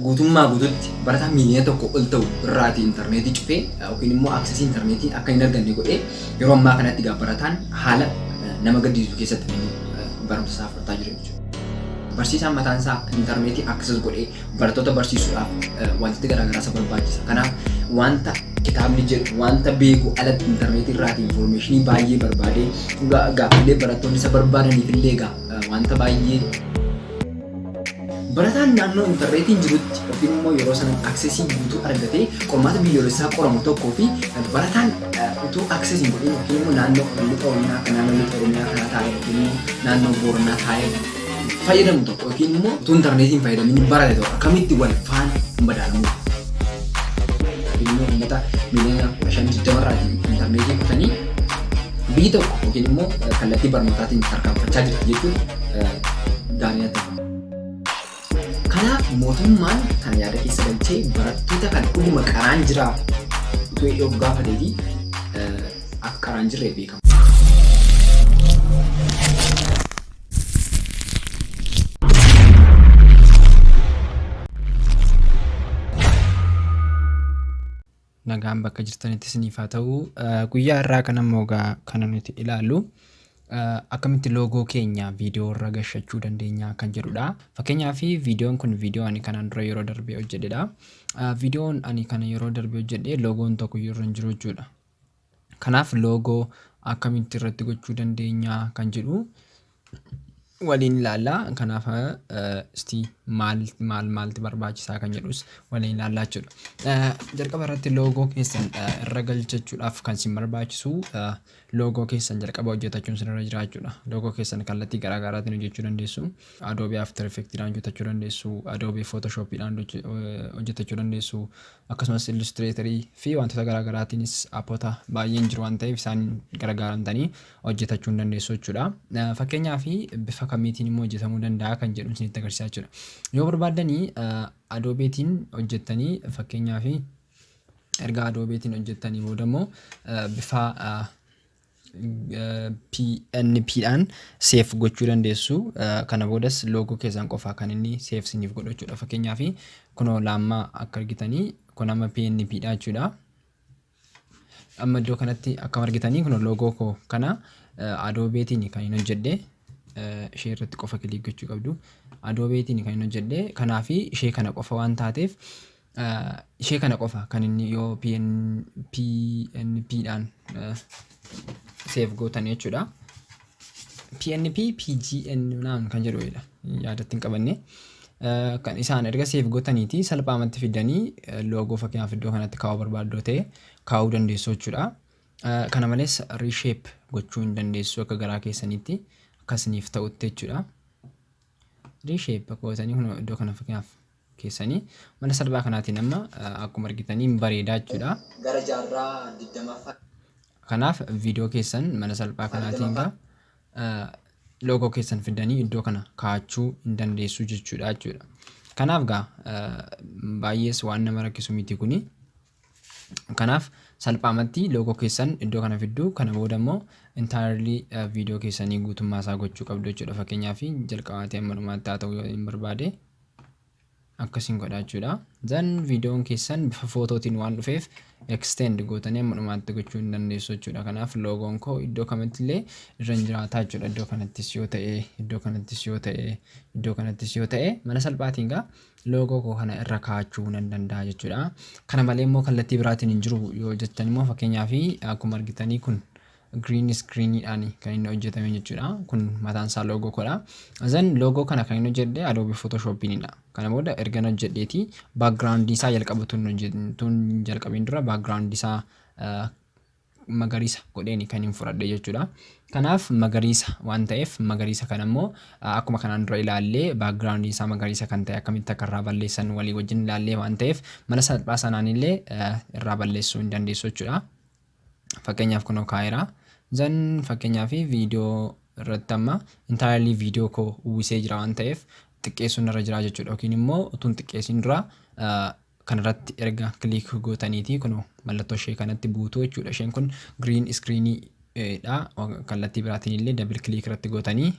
guutummaa guututti barataa miiliyoona tokko ol ta'u irraati intarneetii cufee yookiin immoo aksesii intarneetii akka hin arganne godhee yeroo ammaa kanatti egaa barataan haala nama gaddisiisu keessatti inni barumsa isaa fudhataa jira jechuudha. Barsiisaan mataan isaa intarneetii akses godhee barattoota barsiisuudhaaf wantoota garaagaraa isa barbaachisa. Kanaaf wanta kitaabni jedhu wanta beeku alatti intarneetii irraati infoormeeshinii baay'ee barbaadee gaaffilee barattoonni isa barbaadaniif illee egaa wanta baay'ee Barataan naannoo intarneetiin jirutti yookiin immoo yeroo sana aksesii guutuu argatee qormaata biyyoolessaa qoramu tokkoo fi barataan utuu akses hin godhin yookiin immoo naannoo lixa oromiyaa akka naannoo lixa oromiyaa kana taa'e yookiin immoo naannoo booranaa taa'e fayyadamu tokko yookiin immoo utuu intarneetiin fayyadamin barate tokko akkamitti wal faana hin madaalamu. Yookiin immoo uummata miliyoona kudha shan digdama irraatiin intarneetii kutanii biyyi tokko yookiin immoo kallattii barnootaatiin tarkaanfachaa jirti jechuudha. gaarii natti fakkaata. Kanaaf mootummaan kan yaada keessa galchee barattoota kan dhuguma qaraan jiraa utuu yoo gaafatee fi akka qaraan jirre beekama. Nagaan bakka jirtanitti isiniif haa ta'u. Guyyaa har'aa kana immoo egaa kana nuti ilaallu akkamitti loogoo keenya viidiyoo irra gashachuu dandeenya kan jedhudha. Fakkeenyaaf viidiyoon kun viidiyoo ani kanaan dura yeroo darbee hojjedhedha. Viidiyoon ani kana yeroo darbee hojjedhe loogoon tokko iyyuu irra hin jiru jechuudha. Kanaaf logo akkamitti irratti gochuu dandeenya kan jedhu waliin ilaalla. Kanaaf isti maal maal maalti barbaachisaa kan jedhus waliin ilaallaa jechuudha. Jalqaba irratti logo keessan irra galchachuudhaaf kan isin barbaachisu logo keessan jalqaba hojjetachuun isin irra jira jechuudha. Logo keessan kallattii garaa garaatiin hojjechuu dandeessu. Adobe After Effects dhaan hojjetachuu dandeessu, Adobe Photoshop dhaan hojjetachuu dandeessu, Akkasumas Illustrator fi wantoota garaa garaatiinis appota baay'een jiru waan ta'eef isaan gargaaramtanii hojjetachuu hin dandeessu jechuudha. Fakkeenyaa fi bifa kamiitiin immoo hojjetamuu danda'a kan jedhu isinitti agarsiisaa jechuudha. Yoo barbaaddanii adoobeetiin hojjettanii fakkeenyaa fi erga adoobeetiin hojjettanii booda immoo bifa pnp dhaan seef gochuu dandeessu. Kana boodas loogoo keessan qofaa kan inni seef siniif godhu jechuudha. Fakkeenyaaf kunoo laammaa akka argitanii kun amma pnp dha jechuudha. Amma iddoo kanatti akkam argitanii kunoo loogoo koo kana adoobeetiin kan hin hojjedhe ishee irratti qofa kiliik gochuu qabdu. Adoobeetiin kan hin hojjedhe kanaafi ishee kana qofa waan taateef ishee kana qofa kan inni yoo PN, PNP dhaan save gootan jechuudha. PNP PGN naan kan jedhu dha yaadatti hin qabanne. Kan isaan erga save gootaniiti salphaamatti fiddanii loogoo fakkeenyaaf iddoo kanatti kaa'uu barbaaddu ta'e kaa'uu dandeessu jechuudha. Kana malees reshape gochuu hin dandeessu akka garaa keessaniitti akkasiniif ta'utti jechuudha. Reshape gootanii kun iddoo kana fakkeenyaaf keessanii mala salphaa kanaatiin amma akkuma argitan hin bareedaa jechuudha. Gara jaarraa 20ffaa. Kanaaf viidiyoo keessan mala salphaa kanaatiin gaa loogoo keessan fiddanii iddoo kana kaa'achuu hin dandeessuu jechuudha jechuudha. Kanaaf gaa baay'ees waan nama rakkisu miti kuni. Kanaaf salphaamatti logo keessan iddoo kana fidduu kana booda immoo entirely video keessanii guutummaa isaa gochuu qabdu jechuudha fakkeenyaaf jalqabaatii amma dhumaatti haa ta'u yoo hin barbaade akkasiin godha jechuudha zan viidiyoon keessan bifa footootiin waan dhufeef extend gootanii amma dhumaatti gochuu hin dandeessu jechuudha kanaaf loogoon koo iddoo kamitti illee irra hin jiraataa jechuudha iddoo kanattis yoo ta'e iddoo kanattis yoo ta'e iddoo kanattis yoo ta'e mala salphaatiin gaa loogoo koo kana irra kaa'achuu nan danda'a jechuudha. Kana malee immoo kallattii biraatiin hin jiru yoo jettan immoo fakkeenyaaf akkuma argitanii kun green screen dhaan kan inni hojjetame jechuudha. Kun mataan isaa loogoo koodha. Zan loogoo kana kan inni hojjedhe Adobe Photoshop dha. Kana booda erga na hojjedheeti background isaa jalqaba tun hojjetun jalqabin dura background isaa magariisa godheeni kanin fudhadhe jechuudha. Kanaaf magariisa waan ta'eef magariisa kana immoo akkuma kanaan dura ilaalle background isaa magariisa kan ta'e akkamitti akka irraa balleessan walii wajjin ilaallee waan ta'eef mala salphaa sanaan illee irraa balleessuu hin dandeessu jechuudha. Fakkeenyaaf kunoo kaa'eera. Zan fakkeenyaaf viidiyoo irratti amma intaayilii viidiyoo koo uwwisee jira waan ta'eef xiqqeessuun irra jira jechuudha yookiin immoo utuun xiqqeessin dura kanarratti erga click gootaniitii kunoo mallattoo ishee kanatti buutuu jechuudha isheen kun green screen dha kallattii biraatiin illee double click irratti gootanii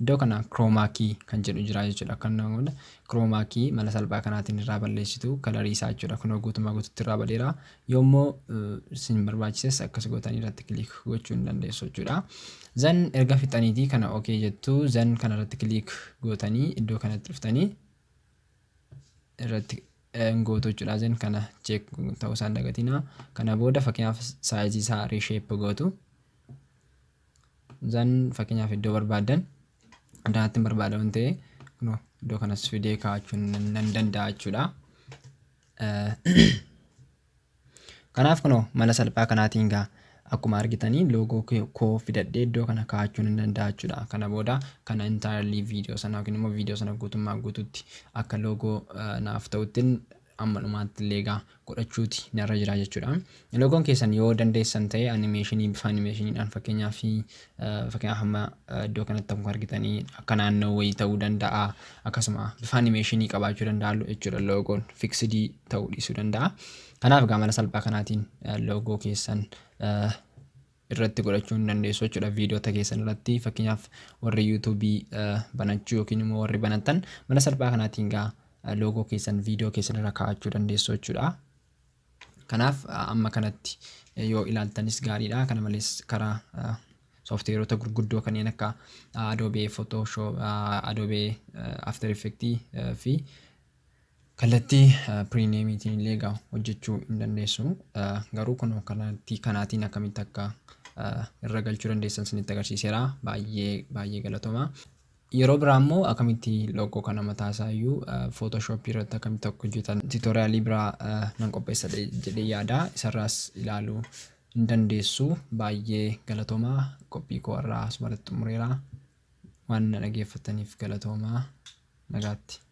iddoo kana chroma key kan jedhu jira jechuudha akka namoota chroma key mala salphaa kanaatiin irraa balleessitu kalarii isaa jechuudha kunoo guutumaa guututti irraa badeera yoommoo isin barbaachises akkas gootanii irratti click gochuu hin dandeessu jechuudha zan erga fixaniitii kana ok jettu zan kanarratti click gootanii iddoo kanatti dhuftanii irratti gootu jechuudha isin kana check ta'uu isaan dagatina kana booda fakkeenyaaf saayizii isaa reshape gootu zan fakkeenyaaf iddoo barbaadan addanatti hin barbaada waan ta'e kunoo iddoo kanas fidee kaa'achuun nan danda'a jechuudha. Kanaaf kunoo mala salphaa kanaatiin gaa akkuma argitanii loogoo koo fidadhee iddoo kana kaa'achuun hin danda'a jechuudha. Kana booda kana entirely viidiyoo sana yookiin immoo viidiyoo sana guutummaa guututti akka loogoo naaf ta'uttin amma dhumaatti illee egaa godhachuuti narra jira jechuudha. Loogoon keessan yoo dandeessan ta'e animeeshinii bifa animeeshiniidhaan fakkeenyaaf Fakkeenyaaf amma iddoo kanatti akkuma argitanii akka naannoo wayii ta'uu danda'a. Akkasuma bifa animeeshinii qabaachuu danda'a jechuudha loogoon fiksidii ta'uu dhiisuu danda'a. Kanaaf egaa mala salphaa kanaatiin loogoo keessan irratti godhachuu hin dandeessu jechuudha viidiyoota keessan irratti fakkeenyaaf warri yuutuubii banachuu yookiin immoo warri banatan mala salphaa kanaatiin egaa loogoo keessan viidiyoo keessan irra kaa'achuu dandeessu jechuudha. Kanaaf amma kanatti yoo ilaaltanis gaariidha. Kana malees karaa sooftiweerota gurguddoo kanneen akka Adobe Photoshop, Adobe After Effects fi kallattii piriimiyeemiitiin illee egaa hojjechuu hin dandeessu. Garuu kun kallattii kanaatiin akkamitti akka irra galchuu dandeessan isinitti agarsiiseera. Baay'ee baay'ee galatoomaa. Yeroo biraa immoo akkamitti logo kana mataa isaa iyyuu photoshop irratti akkamitti akka hojjetan tutorialii biraa nan qopheessa jedhee yaada isarraas ilaaluu hin dandeessu baay'ee galatoomaa qophii koo irraa asumarratti xumureera waan na dhageeffattaniif galatoomaa nagaatti.